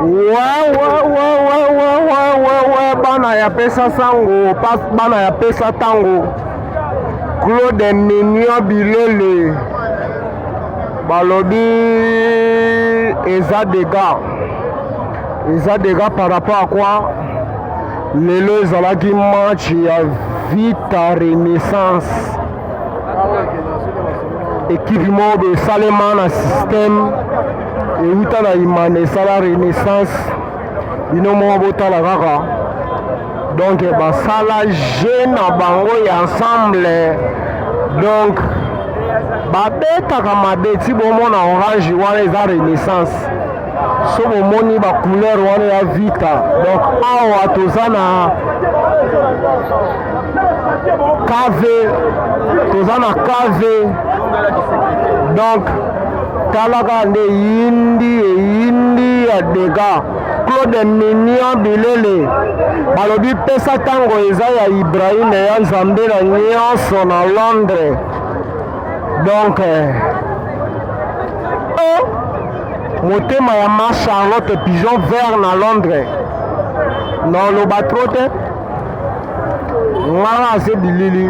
wawawawawawawa bana ya pesa sango pas bana ya pesa tango claude mignon bilele balobi eza dega eza dega par rapport à quoi lelo ezalaki match ya vita renaissance ekipe moko boye esalema na système ewuta na imana esala renaissance bino moko botala kaka donc basala jeu na bango ya ensemble donc babetaka mabe ti bomona orange wana eza renaissance so bomoni bacouleur wana ya vita donc awa toza na kave toza na kave donc talaka nde yindi eyindi ya dega claude mignon bilele balobi pesa ntango eza ya ibrahim ya nzambe na nyonso na londres donc eh, oh, motema ya ma charlotte pigeon vert na londres na oloba tro te ngai aze bilili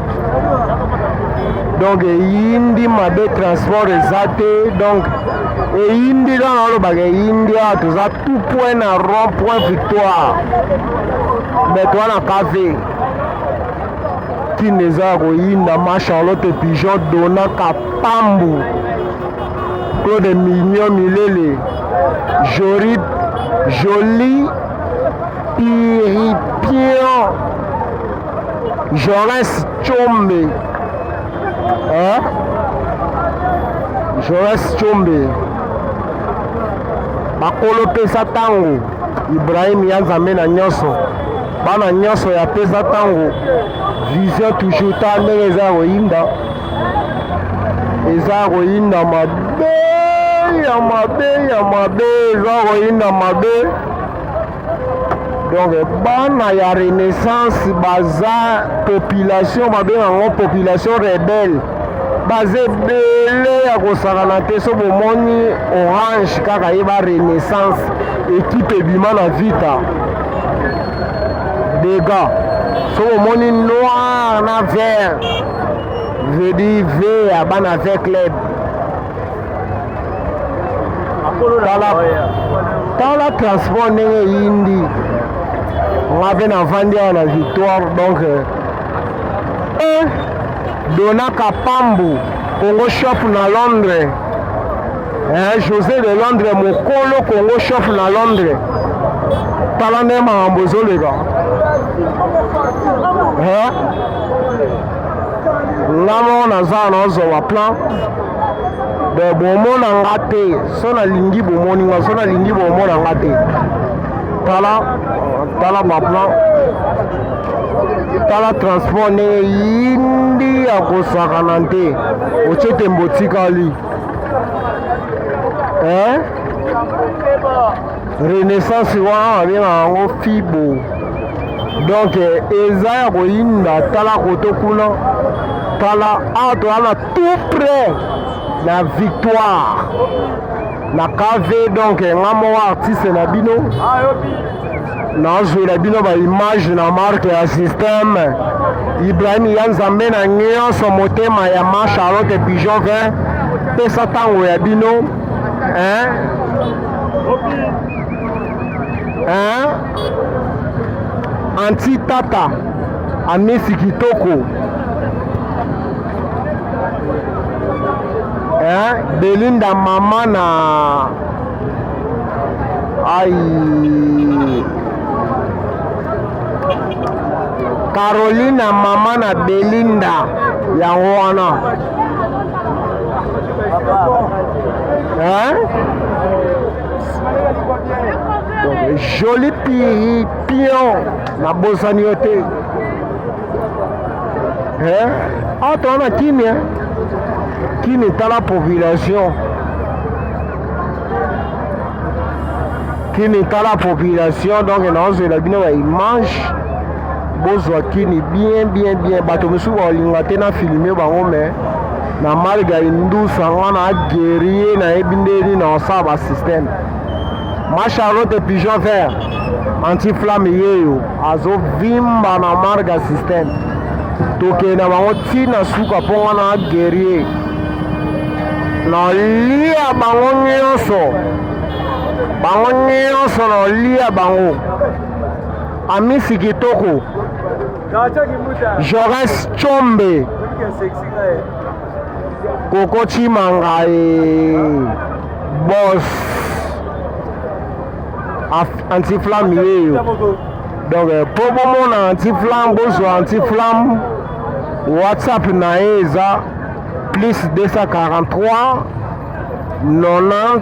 donc eyindi mabe transport eza te donc eyindi kaka olobaka eyindi awa toza tout point na rond point victoire me toa na cave ntina eza ya koyinda ma charlotte pigeon dona kapambu claude mignon milele jori joli piripion Joras Chombe eh? Joras Chombe bakolo pesa tango Ibrahim ya Nzambe na nyonso bana nyonso ya pesa tango vision toujours ta ndenge eza ya koyinda eza ya koyinda mabe ya mabe ya mabe eza koyinda mabe donc bana ya renaissance baza population babenga yango population rebelle baza ebele ya kosakana te so bomoni orange kaka ye ba renaissance ekipe ebima na vita dega so bomoni noir na vert vedi ve ya bana ve club tala transport ndenge eyindi nga mpe navandi awa na victoire donc euh, eh, dona kapambu congo shop na londres eh, josé de londres mokolo congo shop na londres tala nde makambo ezoleka eh? nga moko naza naozwa plan bon bomona nga te so nalingi bomoni nga so nalingi bomona nga te tala tala baplan tala transport ndenge yindi ya kosakana te otye tembo otikali eh? renaissance wana babengaka yango fibo donc eza ya koyinda tala koto kuna tala awa toza na tout près na victoire na kv donc nga moko artiste na bino nazwela bino baimage na marke ya systeme ibrahim ya nzambe na nyonso motema ya ma charlotte pigeon 20 pesa ntango ya bino hein? hein? anti tata amisi kitoko hein? belinda mama na ai carolina mama na belinda yango wana Hein? Donc, joli piri, pion, na bosani yo te. Hein? Ah, toi, on a Kimi, hein? Kimi, t'as la population. Kimi, t'as la population, donc, on a la bino, il mange. bozwa kini bien bien bien bato mosusu bakolinga te na filme bango mais na malga indusa nga na guerrier nayebi ndeni na osala ba système ma charlotte pigeon vert anti flamme yeyo azovimba na marga système tokende na bango ntina suka mpo nga na guerrier nalia bango nyonso bango nyonso nalia bango amisi kitoko Jaurès Tshombe Koko Chimanga et Boss Anti-Flamme yeyo donc euh, mpo bomona anti-flamme bozwa anti-flamme whatsapp na ye eza plus 243 90